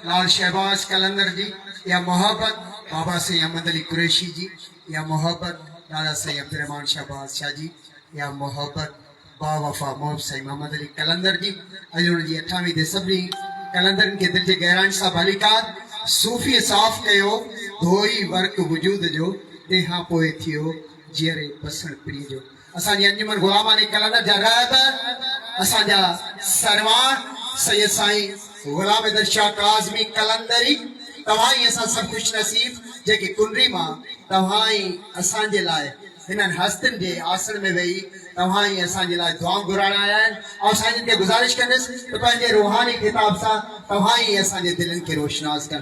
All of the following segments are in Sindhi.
لال شهباز قلندر جي اها محبت، بابا سائين احمد علي قريشي جي اها محبت، لالا سائين عبدالرحمان شهباز شاهه جي اها محبت، باوفا محب سائين محمد علي قلندر جي اڄ هن جي اٺاوين تي سڀني قلندرن کي دل جي گهرائين سان ڀليڪار صوفيء صاف ڪيو، ڌوئي ورق وجود جو تنهن کان پوء ٿيو جيئري بسڻ پرينء جو. اسان جي انجمن غلاماني ڪلنر جا رهبر اسان جا سروان سيد سائين غلام حيدر شاهه ڪاظمي قلندري توهان ئي اسان سڀ خوش نصيب جيڪي ڪنري مان توهان ئي اسان جي لاء هنن هستين جي آسڻ ۾ ويهي توهان ئي اسان جي لاء دعائون گهرائڻ آيا آهن آئون سائينجن کي گذارش ڪندس ته پنهنجي روحاني خطاب سان توهان ئي اسان جي دلين کي روشناس ڪن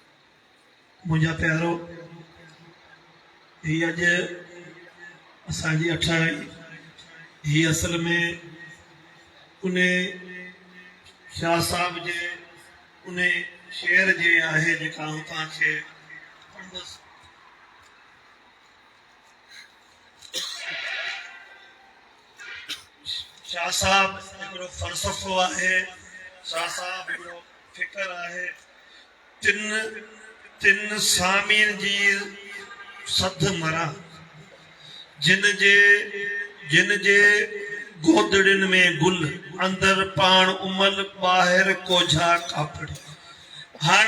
منهنجا پيارو! هي اڄ اسان جي اٺ آهي. هي اصل ۾ انهي شاهه صاحب جي انهي شعر جي آهي جيڪا آئون توهان کي پڙهندس. شاهه صاحب هڪڙو فلسفو آهي، شاهه صاحب هڪڙو فڪر آهي، تن تن سامين جي سڌ مران، جن جي جن جي گودڙين ۾ گل، اندر پاڻ امل، ٻاهر ڪوجها ڪاپڙي. هاڻ.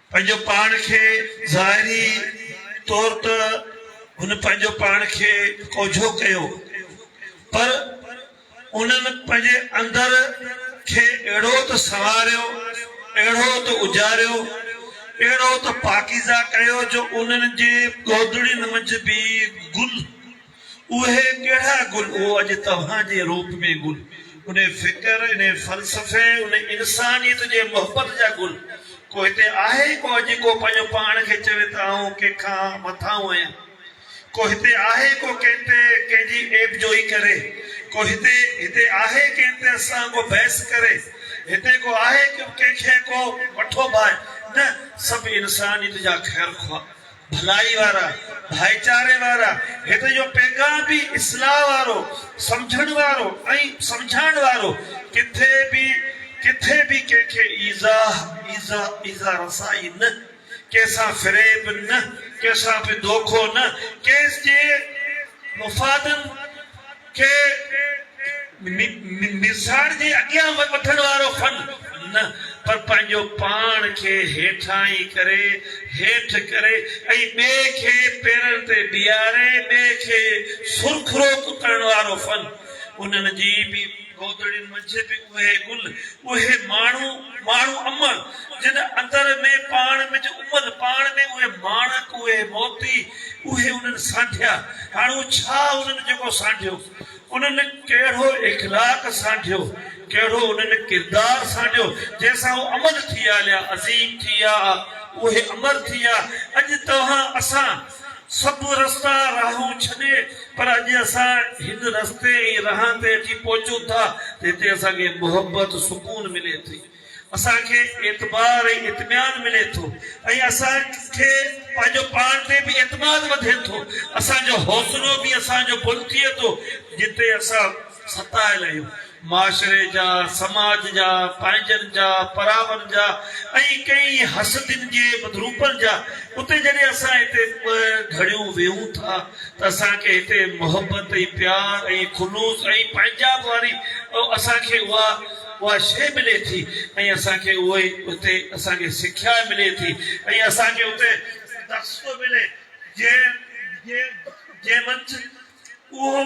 پنهنجو پاڻ کي ظاهري طور ته هن پنهنجو پاڻ کي ڪوجهو ڪيو پر انهن پنهنجي اندر کي اهڙو ته سنواريو، اهڙو ته اجاريو، اهڙو ته پاڪيزه ڪيو جو انهن جي گودڙين منجهه به گل. اهي ڪهڙا گل هو اڄ توهان جي روپ ۾ گل ان فڪر ان فلسفي ان انسانيت جي محبت جا گل ڪو هتي آهي ڪو اڄ ڪو پنهنجو پاڻ کي چوي ته آئون ڪنهن کان مٿاهون آهيان ڪو هتي آهي ڪو ڪنهن تي ڪنهن جي عيب جوئي ڪري ڪو هتي هتي آهي ڪنهن تي اسان ڪو بحث ڪري هتي ڪو آهي ڪنهن کي ڪو مٺو ڀائي نه سڀ انسانيت جا خيرخواهه ڀلائي وارا، ڀائيچاري وارا، هت جو پيغام به اصلاح وارو، سمجهڻ وارو ۽ سمجهائڻ وارو، ڪٿي به ڪٿي به ڪنهن کي ايذاء، ايذاء، ايذاء رسائي نه، ڪنهن سان فريب نه، ڪنهن سان به دوکو نه، ڪنهن جي مفادن. کي نظار جي اڳيان وٺڻ وارو فن نه پر پنهنجو پاڻ کي هيٺاهين ڪري، هيٺ ڪري ۽ ٻئي کي پيرن تي بيهاري ٻئي کي سرخرو ڪرڻ وارو فن. انهن جي به گودڙين منجهه به اهي گل، اهي ماڻهو. ماڻهو امڙ، جن اندر ۾ پاڻ مج امل، پاڻ ۾ اهي ماڻڪ، اهي موتي، اهي انهن سانڍيا، هاڻو ڇا انهن جيڪو سانڍيو، انهن ڪهڙو اخلاق سانڍيو، ڪهڙو انهن ڪردار سانڍيو، جنهن سان هو امر ٿي آليا، عظيم ٿي آ، اهي امر ٿي آ، اڄ توهان اسان. سڀ رستا راهون ڇڏي پر اڄ اسان هن رستي ۽ راهن تي اچي پهچون ٿا ته هتي اسان کي محبت سڪون ملي ٿي اسان کي اعتبار ۽ اطميان ملي ٿو ۽ اسان کي پنهنجو پاڻ تي به اعتماد وڌي ٿو اسان جو حوصلو به اسان جو بلند ٿئي ٿو جتي اسان ستايل آهيون معاشري جا، سماج جا، پنهنجن جا، پراون جا ۽ ڪئين حسدين جي مڌروپن جا. اتي جڏهن اسان هتي ٻه گهڙيون ويهون ٿا ته اسان کي هتي محبت ۽ پيار ۽ خلوص ۽ پنهنجاب واري اسان کي اها اها شيء ملي ٿي ۽ اسان کي اهو ئي اتي اسان کي سکيا ملي ٿي ۽ اسان کي اتي درس ٿو ملي جنهن جنهن جنهن منجهه اهو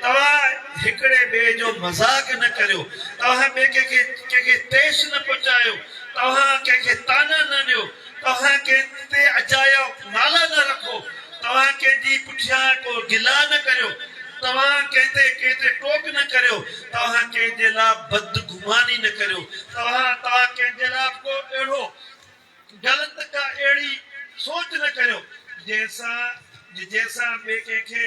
توهان هڪڙي ٻئي جو مذاق نه ڪريو، توهان ٻئي ڪنهن کي ڪنهن کي ٺيس نه پهچايو، توهان ڪنهن کي طعنا نه ڏيو، توهان ڪنهن تي اجايا نالا نه رکو، توهان ڪنهن جي پٺيان ڪو گلا نه ڪريو، توهان ڪنهن تي ڪنهن تي ٽوڪ نه ڪريو، توهان ڪنهن جي لا بدگماني نه ڪريو، توهان توهان ڪنهن جي لا ڪو اهڙو غلط ڪا اهڙي سوچ نه ڪريو جنهن سان جنهن سان ٻئي ڪنهن کي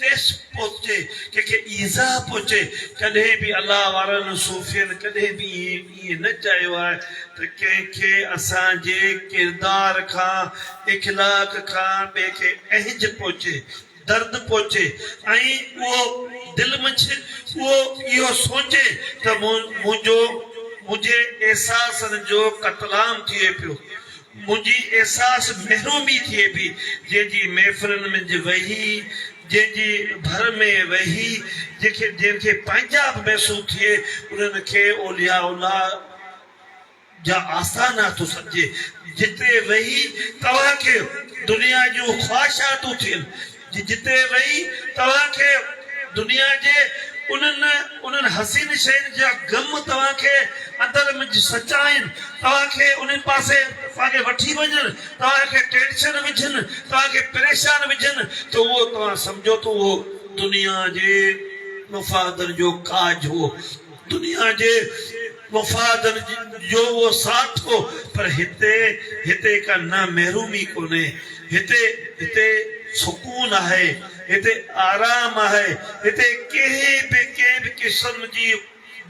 ٺيس پهچي، ڪنهن کي ايذاء پهچي، ڪڏهن به الله وارن صوفين ڪڏهن به ائين نه چاهيو آهي ته ڪنهن کي اسان جي ڪردار کان، اخلاق کان ٻئي کي اهنج پهچي. درد پهچي ۽ اهو دل منجهه اهو اهو سوچي ته منهنجو منهنجي احساسن جو قتلام ٿئي پيو، منهنجي احساس محرومي ٿئي پئي، جنهن جي محفلن منجهه ويهي، جنهن جي ڀر ۾ ويهي، جنهن کي پنهنجائپ محسوس ٿئي، انهن کي اولياء الله. جا آستانا ٿو سڏجي، جتي ويهي توهان کي دنيا جون خواهشاتون ٿين، جتي ويهي توهان کي دنيا جي انهن انهن حسين شين جا غم توهان کي اندر م سچائين، توهان کي انهي پاسي توهان کي وٺي وڃن، توهان کي ٽينشن وجهن، توهان کي پريشان وجهن ته اهو توهان سمجهو ته اهو دنيا جي مفادن جو ڪاڄ هئو. دنيا جي مفادن جو اهو ساٿ هو پر هتي هتي ڪا نه محرومي ڪونهي هتي هتي سڪون آهي هتي آرام آهي هتي ڪنهن به ڪنهن به قسم جي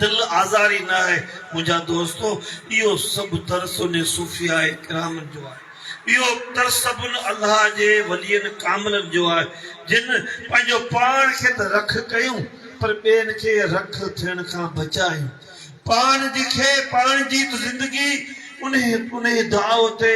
دل آزاري نه آهي منهنجا دوستو اهو سڀ درس انهي صوفياء ڪرامن جو آهي. اهو اختر سڀن الله جي ولين ڪاملن جو آهي، جن پنهنجو پاڻ کي ته رک ڪيون پر ٻين کي رک ٿيڻ کان بچايون. پاڻ جي کي پاڻ جي ته زندگي انهي انهي داء تي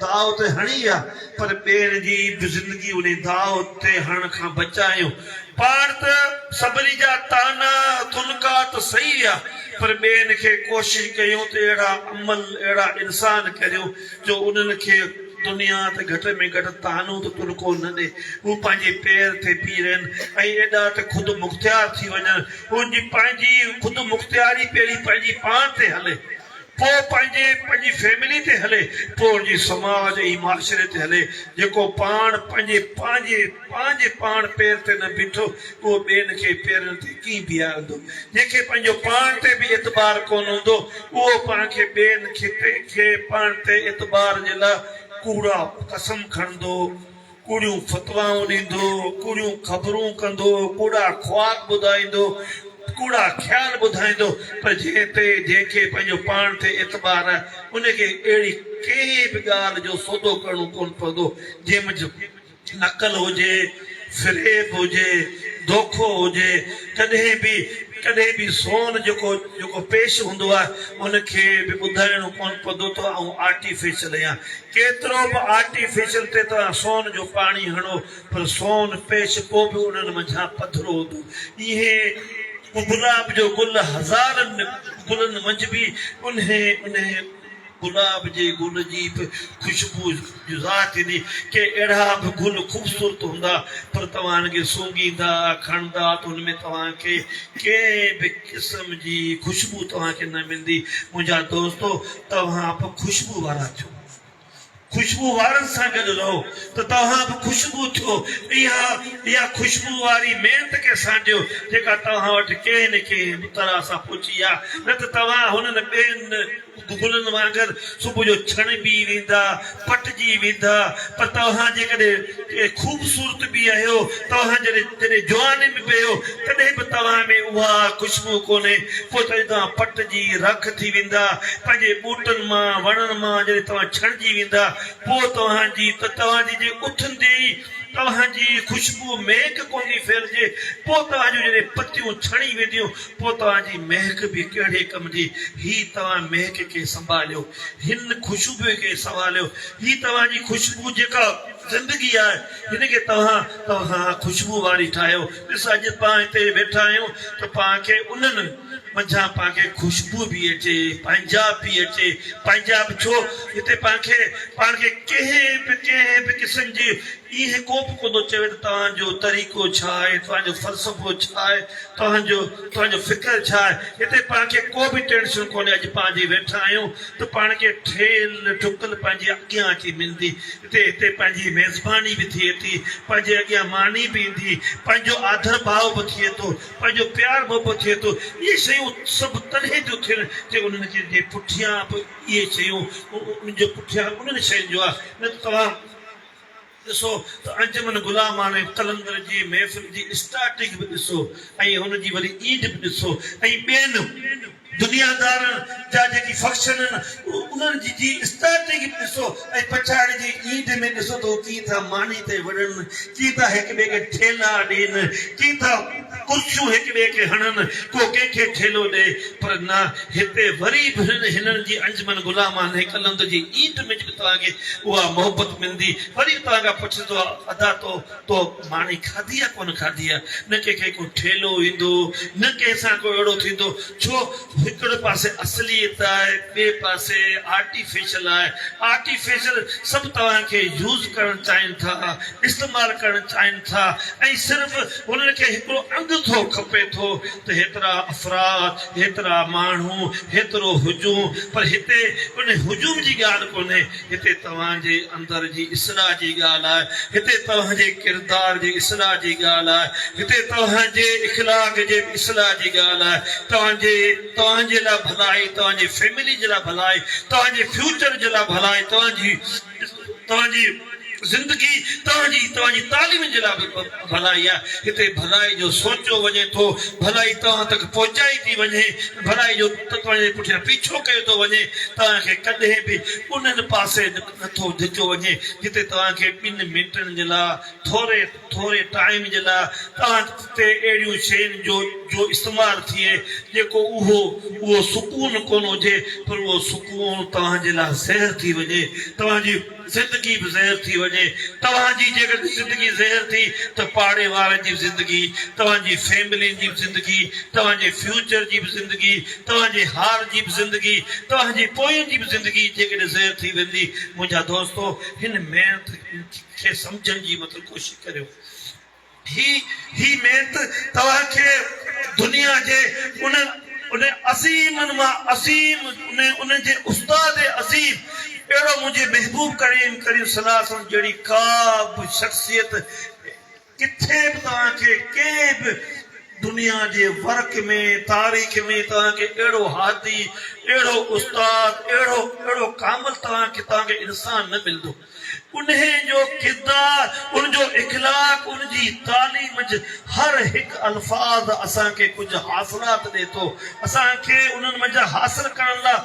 داء تي هڻي آ پر ٻين جي به زندگي انهي داء تي هڻڻ کان بچايون. پاڻ ته سڀني جا طعنا تنڪا ته سهي آ پر ٻين کي ڪوشش ڪيون ته اهڙا عمل اهڙا انسان ڪريون جو انهن کي دنيا ته گهٽ ۾ گهٽ طعنو ته تلڪو نه ڏي، هو پنهنجي پير تي بيهي رهن ۽ ايڏا ته خود مختيار ٿي وڃن، انهن جي پنهنجي خود مختياري پهرين پنهنجي پاڻ تي هلي، پوء پنهنجي پنهنجي فيملي تي هلي، پوء انهن جي سماج ۽ معاشري تي هلي، جيڪو پاڻ پنهنجي پنهنجي. پنهنجي پاڻ پير تي نه بيٺو، اهو ٻين کي پيرن تي ڪيئن بيهارندو؟ جنهن کي پنهنجو پاڻ تي به اعتبار ڪونه هوندو، اهو پاڻ کي ٻين کي پاڻ تي اعتبار جي لاء ڪوڙا قسم کڻندو، ڪوڙيون فتوائون ڏيندو، ڪوڙيون خبرون ڪندو، ڪوڙا خواب ٻڌائيندو، ڪوڙا خيال ٻڌائيندو، پر جنهن تي، جنهن کي پنهنجو پاڻ تي اعتبار آهي، ان کي اهڙي ڪنهن به ڳالهه جو سودو ڪرڻو ڪونه پوندو، جنهن منجهه نقل هجي، فريب هجي، دوکو هجي، ڪڏهن به ڪڏهن به سون جيڪو جيڪو پيش هوندو آهي ان کي به ٻڌائڻو ڪونه پوندو ته آئون آرٽيفيشل اهيان. ڪيترو به آرٽيفيشل تي توهان سون جو پاڻي هڻو پر سون پيش پوء به انهن منجهان پڌرو هوندو. ايئن گلاب جو گل هزارن گلن منجهه به انهي انهي گلاب جي گل جي به خوشبو جزا ٿيندي. ڪي اهڙا به گل خوبصورت هوندا پر توهان انهن کي سونگهيندا، کڻندا ته ان ۾ توهان کي ڪنهن به قسم جي خوشبو توهان کي نه ملندي. منهنجا دوستو! توهان به خوشبو وارا ٿيو. خوشبو وارن سان گڏ رهو ته توهان به خوشبو ٿيو ۽ اها خوشبو واري محنت کي سانڍيو جيڪا توهان وٽ ڪنهن نه ڪنهن به طرح سان پهچي آ نه ته توهان هنن ٻين گلن وانگر صبح جو ڇڻبي ويندا پٽجي ويندا پر توهان جيڪڏهن اي خوبصورت ٻيهيو! توهان جڏهن جواني ۾ پيو، تڏهن به توهان ۾ اها خوشبو ڪونهي. پوء ته توهان پٽجي رک ٿي ويندا. پنهنجي ٻوٽن مان، وڻن مان جڏهن توهان ڇڻجي ويندا، پوء توهان جي ته توهان جي جي اٿندي ئي توهان جي خوشبوء مهڪ ڪوندي ڦهلجي. پوء توهان جون جڏهن پتيون ڇڻي وينديون، پوء توهان جي مهڪ به ڪهڙي ڪم جي؟ هي توهان مهڪ کي سنڀاليو. هن خوشبوء کي سنواليو. هي توهان جي خوشبو جيڪا. زندگي آهي جنهن کي توهان توهان خوشبو واري ٺاهيو ڏس اڄ پان هتي ويٺا آهيون ته پان کي انهن منجهان پان کي خوشبو به اچي پنهنجاب به اچي پنهنجاب ڇو هتي پان کي پان کي ڪنهن به ڪنهن به قسم جي ايئن ڪوبه ڪونه چوي ته توهان جو طريقو ڇا آهي توهان جو فلسفو ڇا آهي توهان جو توهان جو فڪر ڇا آهي هتي پان کي ڪو به ٽينشن ڪونهي اڄ پان جي ويٺا آهيون ته پان کي ٺهيل ٺڪل پنهنجي اڳيان اچي ملندي ٿئي اتي پنهنجي ميزباني به ٿئي ٿي، پنهنجي اڳيان ماني به ايندي، پنهنجو آڌر ڀاء به ٿئي ٿو، پنهنجو پيار محبت ٿئي ٿو، اهي شيون سڀ تڏهن ٿيون ٿين جي انهن جي پٺيان به اهي شيون انهن جي پٺيان انهن شين جو آ نه ته توهان ڏسو ته انجمن غلاماڻي قلندر جي محفل جي اسٽارٽنگ به ڏسو ۽ هن جي وري اينڊ به ڏسو ۽ ٻين دنيادارن جا جيڪي فڪشن آهن انهن جي جي اسٽارٽنگ به ڏسو ۽ پڇاڙي جي اينڊ ۾ ڏسو ته هو ڪيئن ٿا ماني تي وڙهن، ڪيئن ٿا هڪ ٻئي کي ٺيلا ڏين، ڪيئن ٿا ڪرسيون هڪ ٻئي کي هڻن، ڪو ڪنهن کي ٺيلو ڏئي. پر نه هتي وري به هنن جي انجمن غلامان هيڪلند جي اينڊ ۾ جڏهن توهان کي اها محبت ملندي وري به توهان کان پڇندو ادا تو تو ماني کاڌي يا ڪونه کاڌي آ؟ نه ڪنهن کي ڪو ٺيلهو ايندو، نه ڪنهن سان ڪو اهڙو ٿيندو، ڇو هڪڙي پاسي اصليت آهي، ٻئي پاسي آرٽيفيشل آهي، آرٽيفيشل سڀ توهان کي يوز ڪرڻ چاهين ٿا، استعمال ڪرڻ چاهين ٿا ۽ صرف انهن کي هڪڙو انگٿو کپي ٿو ته هيترا افراد، هيترا ماڻهو، هيترو هجون پر هتي ان هجوم جي ڳالهه ڪونهي، هتي توهان جي اندر جي اصلاح جي ڳالهه آهي، هتي توهان جي ڪردار جي اصلاح جي ڳالهه آهي، هتي توهان جي اخلاق جي به اصلاح جي ڳالهه آهي، توهان جي توهان جي لاء ڀلائي، توهان جي فيملي جي لاء ڀلائي، توهان جي فيوچر جي لاء ڀلائي، توهان جي توهان جي زندگي، توهان جي توهان جي تعليم جي لاء به ڀلائي آ، هتي ڀلائي جو سوچيو وڃي ٿو، ڀلائي توهان تڪ پهچائي ٿي وڃي، ڀلائي جو توهان جي پٺيان پيڇو ڪيو ٿو وڃي، توهان کي ڪڏهن به انهن پاسي نه ٿو ڌچيو وڃي، جتي توهان کي ٻن منٽن جي لاء، ٿوري ٿوري ٽائيم جي لاء، توهان تي اهڙيون شين جو جو استعمال ٿئي، جيڪو اهو اهو سڪون ڪونه هجي، پر اهو سڪون توهان جي لاء زهر ٿي وڃي، توهان جي. زندگي به زهر ٿي وڃي توهان جي جيڪڏهن زندگي زهر ٿي ته پاڙي وارن جي به زندگي توهان جي فيملين جي به زندگي توهان جي فيوچر جي به زندگي توهان جي هار جي به زندگي توهان جي پوين جي به زندگي جيڪڏهن زهر ٿي ويندي منهنجا دوستو هن ميڻ کي سمجهڻ جي مطلب ڪوشش ڪريو هي هي ميت توهان کي دنيا جي ان ان عظيمن مان عظيم ان ان جي استاد عظيم اهڙو منهنجي محبوب ڪريم ڪريم صلي الله عليه وسلم جهڙي ڪا به شخصيت ڪٿي به توهان کي ڪنهن به دنيا جي ورق ۾ تاريخ ۾ توهان کي اهڙو هادي اهڙو استاد اهڙو اهڙو ڪامل توهان کي توهان کي انسان نه ملندو. انهيء جو ڪردار، ان جو اخلاق، ان جي تعليم جي هر هڪ الفاظ اسان کي ڪجهه حاصلات ڏئي ٿو. اسان کي انهن منجهان حاصل ڪرڻ لاء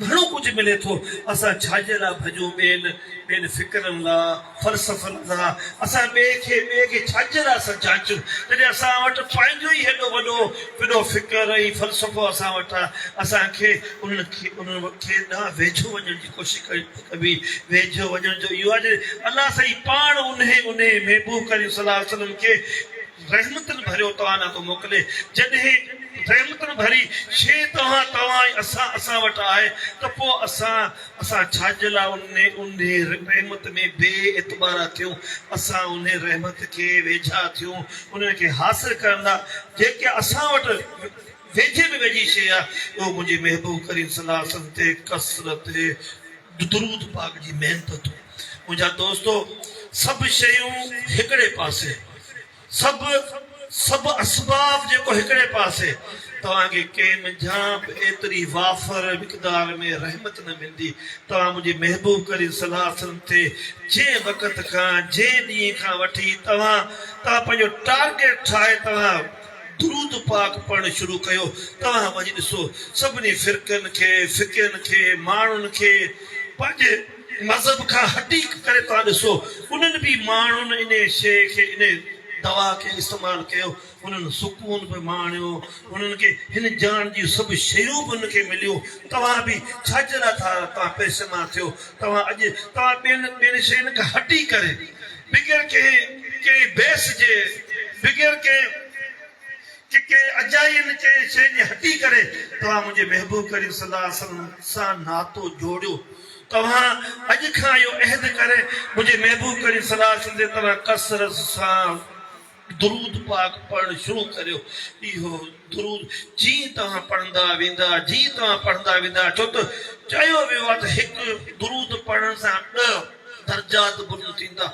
گهڻو ڪجهه ملي ٿو. اسان ڇاجي لاء ڀڄون ٻين ٻين فڪرن لاء، فلسفن لاء؟ اسان ٻئي کي ٻئي کي ڇاجي لاء اسان جاچون، جڏهن اسان وٽ پنهنجو ئي هيڏو وڏو وڏو فڪر ۽ فلسفو اسان وٽ آهي؟ اسان کي انهن کي انهن کي ڏانهن ويجهو وڃڻ جي ڪوشش ڪرڻ به ويجهو وڃڻ جو اهو آهي جو الله سائين پاڻ انهي انهي محبوب ڪريم صلي الله عليه وسلم کي رحمتن ڀريو توانا ٿو موڪلي جڏهن رحمتن ڀري شيء توهان توهان ۽ اسان اسان وٽ آهي ته پوء اسان اسان ڇاجي لاء انهي انهي رحمت ۾ بي اعتبارا ٿيون اسان انهي رحمت کي ويجها ٿيون انهي کي حاصل ڪرڻ لاء جيڪي اسان وٽ ويجهي ۾ ويجهي شيء آ، اهو منهنجي محبوب ڪريم صلي الله عليه وسلم تي ڪثرت درود پاڪ جي محنتون. منهنجا دوستو! سڀ شيون هڪڙي پاسي، سڀ سڀ اسباب جيڪو هڪڙي پاسي، توهان کي ڪنهن منجهان به ايتري وافر مقدار ۾ رحمت نه ملندي، توهان منهنجي محبوب ڪريم صلي الله عليه وسلم تي جنهن وقت کان، جنهن ڏينهن کان وٺي توهان توهان پنهنجو ٽارگيٽ ٺاهي توهان درود پاڪ پڙهڻ شروع ڪيو توهان وڃي ڏسو سڀني فرقن کي فقين کي ماڻهن کي پنهنجي مذهب کان هٽي ڪري توهان ڏسو انهن به ماڻهن انهي شيء کي انهي دوا کي استعمال ڪيو انهن سڪون به ماڻيو انهن کي هن جهان جون سڀ شيون به انهن کي مليون توهان به ڇاجي لاء ٿا توهان پئسي مان ٿيو توهان اڄ توهان ٻين ٻين شين کان هٽي ڪري بغير ڪنهن ڪنهن بيس جي، بغير ڪنهن ڪنهن اجائين ڪنهن شيء جي هٽي ڪري توهان منهنجي محبوب ڪريم صلي الله عليه وسلم سان ناتو جوڙيو. توهان اڄ کان اهو عهد ڪري منهنجي محبوب ڪريم صلي الله عليه وسلم جي طرح ڪثرت سان درود پاڪ پڙهڻ شروع ڪريو. اهو درود جيئن توهان پڙهندا ويندا جيئن توهان پڙهندا ويندا ڇو ته چيو ويو آهي ته هڪ درود پڙهڻ سان ڏهه درجات بلند ٿيندا.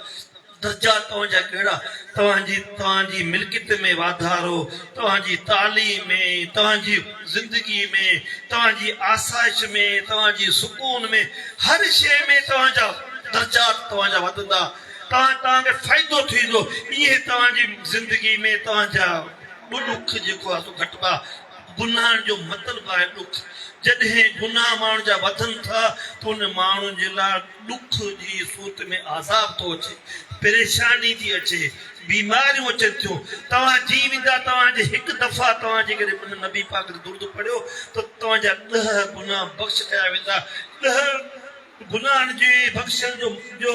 درجات توهان جا ڪهڙا؟ توهان جي توهان جي ملڪيت ۾ واڌارو، توهان جي تعليم ۾، توهان جي زندگي ۾، توهان جي آسائش ۾، توهان جي سڪون ۾، هر شيء ۾ توهان جا درجات توهان جا وڌندا. توهان توهان کي فائدو ٿيندو ايئن توهان جي زندگي ۾ توهان جا ڏک جيڪو آهي سو گهٽبا گناهن جو مطلب آهي ڏک جڏهن گناهه ماڻهن جا وڌن ٿا ته ان ماڻهن جي لاء ڏک جي صورت ۾ عذاب ٿو اچي پريشاني ٿي اچي بيماريون اچن ٿيون توهان جي ويندا توهان جي هڪ دفعا توهان جي ڪڏهن ان نبي پاڪ تي درود پڙهيو ته توهان جا ڏهه گناهه بخش ڪيا ويندا ڏهه گناهن جي بخشڻ جو جو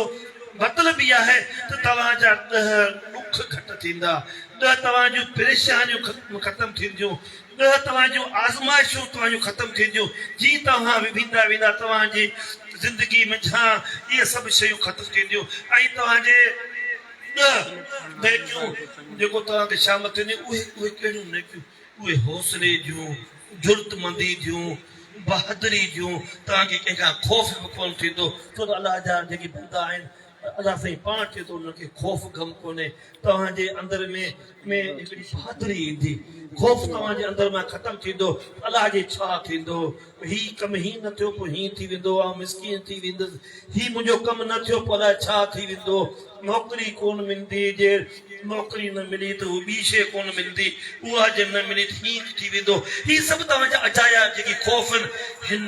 مطلب هي آهي ته توهان جا ڏهه ڏک گهٽ ٿيندا، ڏهه توهان جون پريشانيون ختم ٿينديون، ڏهه توهان جون آزمائشون توهان جون ختم ٿينديون، جيئن توهان ويندا ويندا توهان جي زندگي منجهان اهي سڀ شيون ختم ٿينديون ۽ توهان جي ڏهه نيڪيون جيڪو توهان کي شامل ٿينديون اهي اهي ڪهڙيون نيڪيون؟ اهي حوصلي جون، جرئتمندي جون، بهادري جون توهان کي ڪنهن کان خوف به ڪونه ٿيندو ڇو ته الله جا جيڪي بندا آهن الله سائين پاڻ چئي ٿو انهن کي خوف غم ڪونهي توهان جي اندر ۾ ۾ هڪڙي بهادري ايندي خوف توهان جي اندر مان ختم ٿيندو ته الله جي ڇا ٿيندو هي ڪم هيئن نه ٿيو، پوء هيئن ٿي ويندو، آئون مسڪين ٿي ويندس. هي منهنجو ڪم نه ٿيو، پوء الاء ڇا ٿي ويندو. نوڪري ڪونه ملندي، جي نوڪري نه ملي ته هو ٻي شيء ڪونه ملندي، اها جي نه ملي ته هيئن ٿي ويندو. هي سڀ توهان جا اجايا جيڪي خوف آهن. هن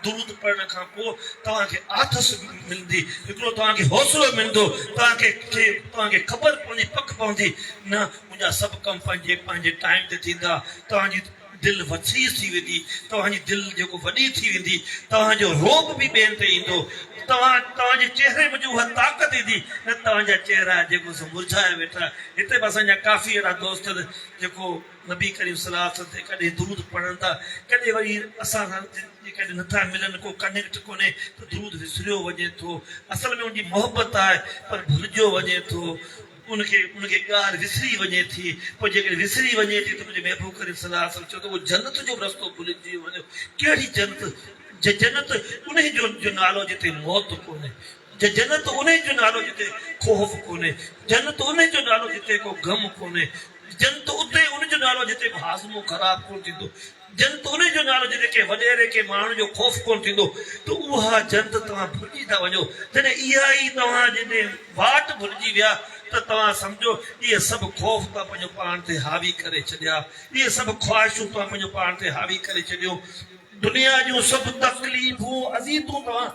درود پڙهڻ کان پوء توهان کي آٿس ملندي، هڪڙو توهان کي حوصلو ملندو، توهان کي توهان کي خبر پوندي، پڪ پوندي، نه منهنجا سڀ ڪم پنهنجي پنهنجي ٽائيم تي ٿيندا، توهان جي. دل وسيع ٿي ويندي، توهان جي دل جيڪو وڏي ٿي ويندي، توهان جو رعب به ٻين تي ايندو، توهان توهان جي چهري منجهه اها طاقت ايندي، نه توهان جا چهرا جيڪو سو مرجهايا ويٺا. هتي به اسان جا ڪافي اهڙا دوست آهن جيڪو نبي ڪريم صلي الله عليه وسلم تي ڪڏهن درود پڙهن ٿا، ڪڏهن وري اسان سان جيڪڏهن نه ٿا ملن، ڪو ڪنيڪٽ ڪونهي ته درود وسريو وڃي ٿو، اصل ۾ ان جي محبت آهي پر ڀلجيو وڃي ٿو. ان کي ان جي ڳالهه وسري وڃي ٿي، پوء جيڪڏهن وسري وڃي ٿي ته منهنجي محبوب ڪريم صلي الله عليه وسلم چيو ته اهو جنت جو به رستو ڀلجي وڃو، ڪهڙي جنت؟ جنت انهي جو جو نالو جتي موت ڪونهي، جنت انهي جو نالو جتي خوف ڪونهي، جنت انهي جو نالو جتي ڪو غم ڪونهي، جنت اتي ان جو نالو جتي ڪو هاضمو خراب ڪونه ٿيندو، جنھن توري جو نالو جتي ڪنھن وڏيري ڪنھن ماڻھوء جو خوف ڪونه ٿيندو ته اها جنت توهان ڀلجي ٿا وڃو جڏهن اها ئي توهان جي ڏي واٽ ڀلجي ويا ته توهان سمجهو اهي سڀ خوف توهان پنھنجو پاڻ تي حاوي ڪري ڇڏيا اهي سڀ خواهشون توهان پنھنجو پاڻ تي حاوي ڪري ڇڏيون دنيا جون سڀ تڪليفون اذيتون توهان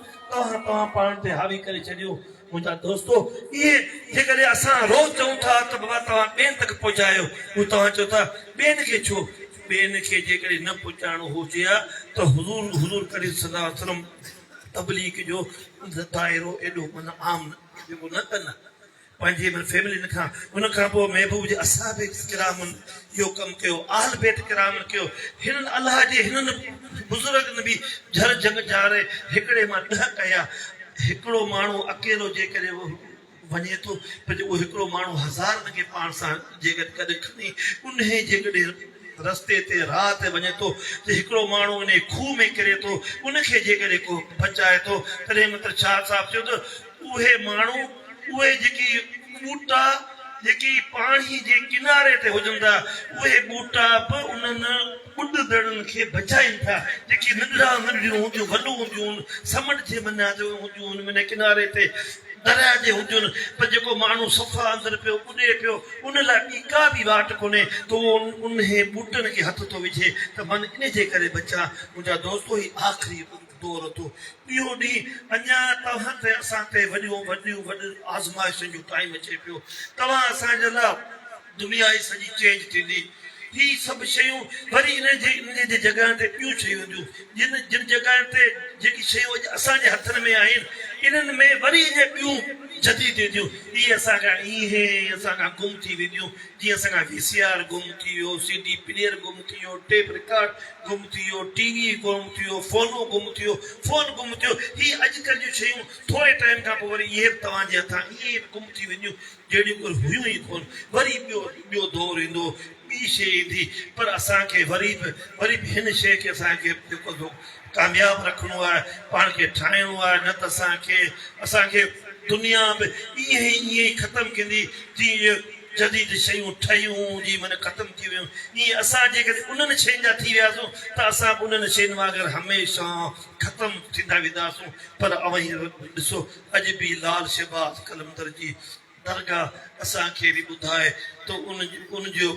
توهان پاڻ تي حاوي ڪري ڇڏيون. منهنجا دوستو! اهي جيڪڏهن اسان روز چئون ٿا ته بابا توهان ٻين تڪ پهچايو، هو توهان چئو ٿا ٻين کي ڇو؟ ٻين کي جيڪڏهن نه پهچائڻو هجي ها ته حضور حضور ڪريم صلي الله عليه وسلم تبليغ جو دائرو ايڏو من عام جيڪو نه ڪن ها پنهنجي من فيملين کان ان کان پوء محبوب جي اصحاب ڪرامن اهو ڪم ڪيو، اهل بيت ڪرامن ڪيو، هنن الله جي هنن بزرگن به جھر جھنگ جاري هڪڙي مان ڏهه ڪيا، هڪڙو ماڻهو اڪيلو جيڪڏهن وڃي ٿو پڄي اهو هڪڙو ماڻهو هزارن کي پاڻ سان جيڪڏهن گڏ کڻي انهي جيڪڏهن رستي تي راهه تي وڃي ٿو ته هڪڙو ماڻهو انهي کوهه ۾ ڪري ٿو ان کي جيڪڏهن ڪو بچائي ٿو تڏهن مطلب شاهه صاحب چيو ته اهي ماڻهو، اهي جيڪي ٻوٽا جيڪي پاڻي جي ڪناري تي هجن ٿا، اهي ٻوٽا به انهن ٻڏندڙن کي بچائين ٿا، جيڪي ننڍڙا ننڍڙيون هونديون، ولون هونديون، سمنڊ جي منجهان جو هونديون، منهن ڪناري تي درياء جي هونديون، پر جيڪو ماڻهو صفا اندر پيو ٻڏي پيو، ان لاء ٻي ڪا به واٽ ڪونهي ته اهو انهي ٻوٽن کي هٿ ٿو وجهي ته من ان جي ڪري بچان، منهنجا دوستو! هي آخري طور ٿو ٻيو ڏينهن اڃا توهان تي اسان تي وڏيون وڏيون وڏيون آزمائشن جو ٽائيم اچي پيو توهان اسان جي لا دنيا ئي سڄي چينج ٿيندي هي سڀ شيون وري ان جي ان جي جڳهن تي ٻيون شيون اينديون جن جن جڳهن تي جيڪي شيون اڄ اسان جي هٿن ۾ آهن انهن ۾ وري اڃا ٻيون جديد اينديون اهي اسان کان ايئن ئي اسان کان گم ٿي وينديون جيئن اسان کان وي سي آر گم ٿي ويو سي ڊي پليئر گم ٿي ويو ٽيپ رڪارڊ گم ٿي ويو، ٽي وي گم ٿي ويو، فونون گم ٿي ويو، فون گم ٿي ويو، هي اڄڪلهه جون شيون ٿوري ٽائيم کان پوء وري اهي به توهان جي هٿان ائين ئي گم ٿي وينديون جهڙيون ڪل هيون ئي ڪونه، وري ٻيو ٻيو دور ايندو، ٻي شيء ايندي، پر اسان کي وري به وري به هن شيء کي اسان کي جيڪو سو ڪامياب رکڻو آهي، پاڻ کي ٺاهڻو آهي، نه ته اسان کي اسان کي دنيا به ائين ائين ئي ختم ڪندي جيئن جديد شيون ٺهيون جي من ختم ٿي ويون ائين اسان جيڪڏهن انهن شين جا ٿي وياسون ته اسان به انهن شين وانگر هميشه ختم ٿيندا وينداسون پر اوهين ڏسو اڄ به لال شهباز قلندر جي درگاهه اسان کي به ٻڌائي ته ان جو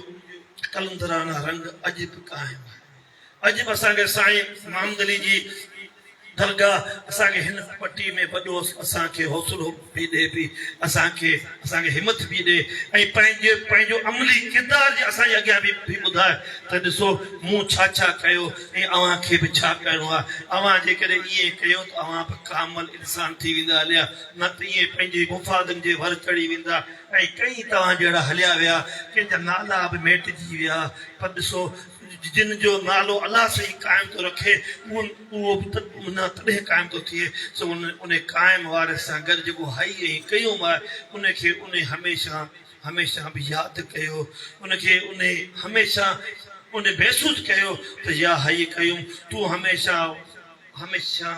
قلندرانه رنگ اڄ به قائم آهي. اڄ به اسان کي سائين محمد علي جي درگاهه اسان کي هن پٽي ۾ وڏو اسان کي حوصلو پي ڏئي پي اسان کي اسان کي همٿ پي ڏئي ۽ پنهنجي پنهنجو عملي ڪردار جي اسان جي اڳيان به پي ٻڌائي ته ڏسو مون ڇا ڇا ڪيو ۽ اوهان کي به ڇا ڪرڻو آهي اوهان جيڪڏهن ائين ڪيو ته اوهان به ڪامل انسان ٿي ويندا هليا نه ته ائين پنهنجي مفادن جي ور چڙهي ويندا ۽ ڪئين توهان جهڙا هليا ويا ڪنهن جا نالا به ميٽجي ويا پر ڏسو جن جو نالو الله سائين قائم ٿو رکي، اهو به نه تڏهن قائم ٿو ٿئي، سو ان قائم وارث سان گڏ جيڪو هئي ۽ ڪيوم آهي، ان کي ان هميشه هميشه به ياد ڪيو، ان کي ان هميشه ان محسوس ڪيو ته يا حي قيوم! تون هميشه هميشه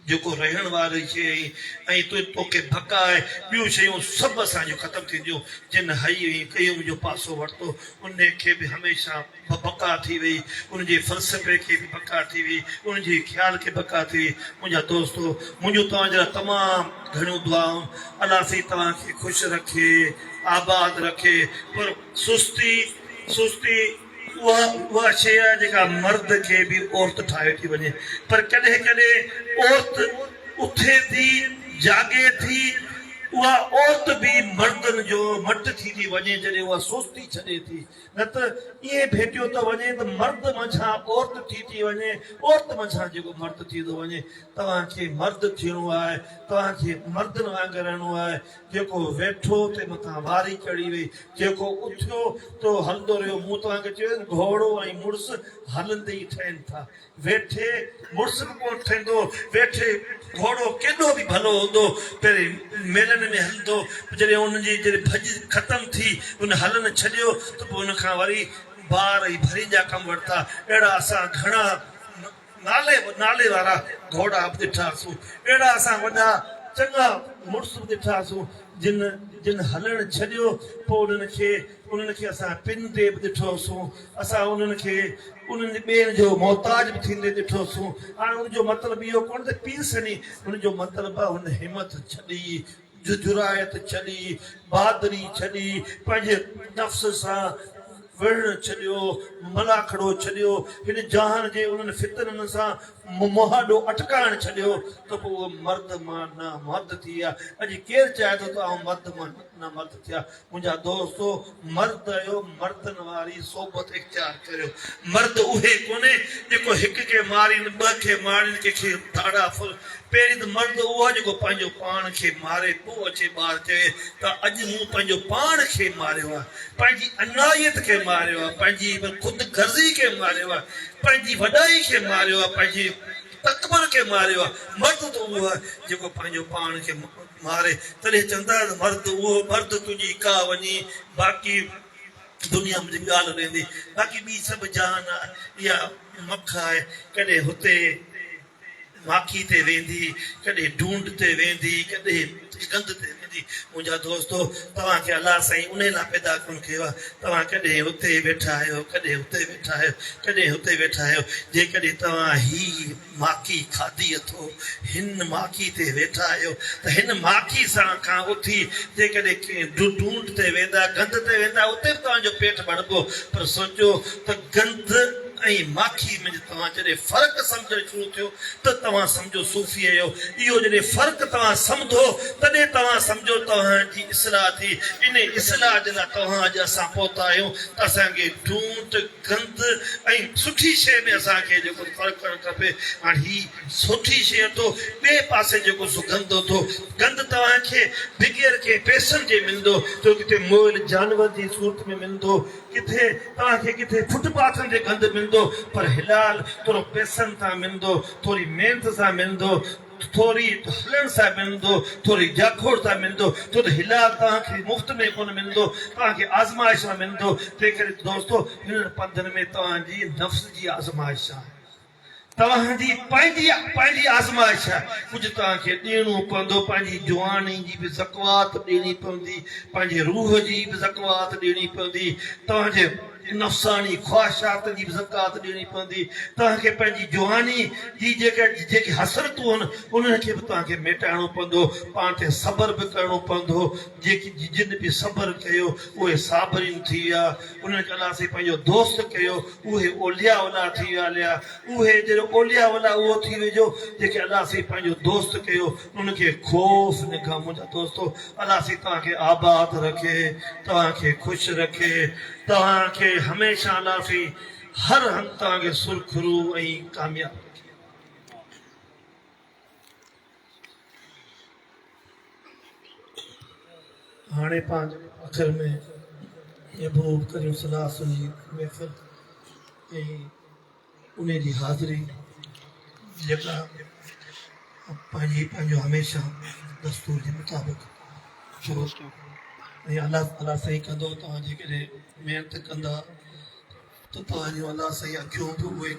جيڪو رهڻ واري شيء آهين ۽ تون توکي ڀڪ آهي، ٻيون شيون سڀ اسان جون ختم ٿينديون، جن حي ۽ قيوم جو پاسو ورتو، ان کي به هميشه بقا ٿي ويئي، ان جي فلسفي کي به بقا ٿي ويئي، ان جي خيال کي بقا ٿي ويئي. منهنجا دوستو! منهنجون توهان جي لاء تمام گهڻيون دعائون، الله سائين توهان کي خوش رکي، آباد رکي، پر سستي، سستي. اها اها شيء آهي جيڪا مرد کي به عورت ٺاهي ٿي وڃي پر ڪڏهن ڪڏهن عورت اٿي ٿي جاڳي ٿي اها عورت به مردن جو مٽ ٿي ٿي وڃي جڏهن اها سستي ڇڏي ٿي نه ته ائين ڀيٽيو ٿو وڃي ته مرد منجهان عورت ٺي ٿي وڃي عورت منجهان جيڪو مرد ٿي ٿو وڃي توهان کي مرد ٿيڻو آهي توهان کي مردن وانگر رهڻو آهي جيڪو ويٺو، تنهن مٿان واري چڙهي وئي. جيڪو اٿيو، تو هلندو رهيو. مون توهان کي چيو ته گهوڙو ۽ مڙس هلندي ئي ٺهين ٿا. ويٺي مڙس به ڪونه ٺهندو. ويٺي گهوڙو ڪيڏو به ڀلو هوندو، پهرين ميلن ۾ هلندو، پوء جڏهن ان جي جڏهن ڀڄ ختم ٿي، ان هلڻ ڇڏيو، ته پوء ان کان وري بار ۽ ڀرين جا ڪم ورتا. اهڙا اسان گهڻا. نالي نالي وارا گهوڙا به ڏٺا سون، اهڙا اسان وڏا چڱا مڙس به ڏٺا سون، جن جن هلڻ ڇڏيو، پوء انهن کي انهن کي اسان پن تي به ڏٺو سون، اسان انهن کي انهن ٻين جو محتاج به ٿيندي ڏٺو سون. هاڻ ان جو مطلب اهو ڪونه ته پيرسني، ان جو مطلب هن همٿ ڇڏي، ججرائت ڇڏي، بھادري ڇڏي، پنھنجي نفس سان وڙھڻ ڇڏيو، ملاکڙو ڇڏيو، ھن جھان جي انھن فتنن سان مھاڏو اٽڪائڻ ڇڏيو ته پوء اھو مرد مان نامرد ٿي ويا. اڄ ڪير چاھي ٿو ته آئون مرد مان نامرد ٿيان؟ منهنجا دوستو! مرد آهيو، مردن واري صحبت اختيار ڪريو. مرد اهي ڪونهي، جيڪو هڪ کي مارين، ٻه کي ماڻين، ڪنهن کي ڌاڙا ڦل. پهرين ته مرد اهو آهي، جيڪو پنهنجو پاڻ کي ماري، پوء اچي ٻار چوي ته اڄ مون پنهنجو پاڻ کي ماريو آهي. پنهنجي انايت کي ماريو آهي، پنهنجي خود غرضي کي ماريو آهي، پنهنجي وڏائي کي ماريو آهي، پنهنجي تڪبر کي ماريو آهي. مرد ته اهو آهي، جيڪو پنهنجو پاڻ کي. ماري تڏهن چوندائين مرد اهو مرد تنهنجي ڪا وڃي باقي دنيا منهنجي ڳالهه ويندي باقي ٻي سڀ جهان آ اها مک آ ڪڏهن هتي ماکي تي ويندي ڪڏهن ڍونڍ تي ويندي ڪڏهن گند تي ويندي منهنجا دوستو توهان کي الله سائين انهي لا پيدا ڪونه ڪيو آ توهان ڪڏهن هتي ويٺا آهيو ڪڏهن هتي ويٺا آهيو ڪڏهن هتي ويٺا آهيو جيڪڏهن توهان هي ماکي کاڌي اٿو، هن ماکي تي ويٺا آهيو ته هن ماکي سان کان اٿي جيڪڏهن ڪنهن ڊونٽ تي ويندا، گند تي ويندا اتي به توهان جو پيٽ ڀربو پر سوچيو ته گند ۽ ماکي منجهه توهان جڏهن فرق سمجهڻ شروع ٿيو ته توهان سمجهو صوفي اهيو، اهو جڏهن فرق توهان سمدهو تڏهن توهان سمجهو توهان جي اصلاح ٿي، انهي اصلاح جي لاء توهان اڄ اسان پهتا آهيون ته اسان کي ڊونٽ. گند ۽ سٺي شيء ۾ اسان کي جيڪو فرق ڪرڻ کپي هاڻ هي سٺي شيء اٿو ٻئي پاسي جيڪو سو گند اٿو گند توهان کي بغير ڪنهن پئسن جي ملندو جو ڪٿي موئل جانور جي صورت ۾ ملندو ڪٿي توهان کي ڪٿي فٽ پاٿن تي گند ملندو پر حلال ٿورو پئسن تان ملندو ٿوري محنت سان ملندو ٿوري هلڻ سان ملندو، ٿوري جاکوڙ سان ملندو، تد هلال توهان کي مفت ۾ ڪونه ملندو، توهان کي آزمائش سان ملندو، تنهنڪري دوستو هنن پنڌن ۾ توهان جي نفس جي آزمائش آهي، توهان جي پنهنجي پنهنجي آزمائش آهي، ڪجهه توهان کي ڏيڻو پوندو، پنهنجي جواني جي به زڪوات ڏيڻي پوندي، پنهنجي روح جي به زڪوات ڏيڻي پوندي، توهان جي. نفساني خواهشات جي به زڪوات ڏيڻي پوندي. توهان کي پنهنجي جواني جي جيڪي حسرتون آهن، انهن کي به توهان کي ميٽائڻو پوندو. پاڻ تي صبر به ڪرڻو پوندو. جيڪي جن به صبر ڪيو، اهي صابرين ٿي ويا. انهن کي الله سائين پنهنجو دوست ڪيو. اهي اولياء الله ٿي ويا. اولياء اهي جن اولياء الله اهو ٿي ويو جو جنهن کي الله سائين پنهنجو دوست ڪيو. ان کي خوف نه کان منهنجا دوستو الله سي توهان کي آباد رکي توهان کي خوش رکي توهان کي هميشه الله سي هر هنڌ توهان کي سرخرو ۽ ڪامياب رکي. هاڻي پنهنجي آخر ۾ محبوب ڪريم صلي الله عليه وسلم جي محفل ۽ انهيء جي حاضري جيڪا پنهنجي پنهنجو هميشه دستور جي مطابق شروع ٿيو ۽ الله تعاليٰ سائين ڪندو توهان جيڪڏهن محنت ڪندا ته توهان جون الله سائين اکيون به اهي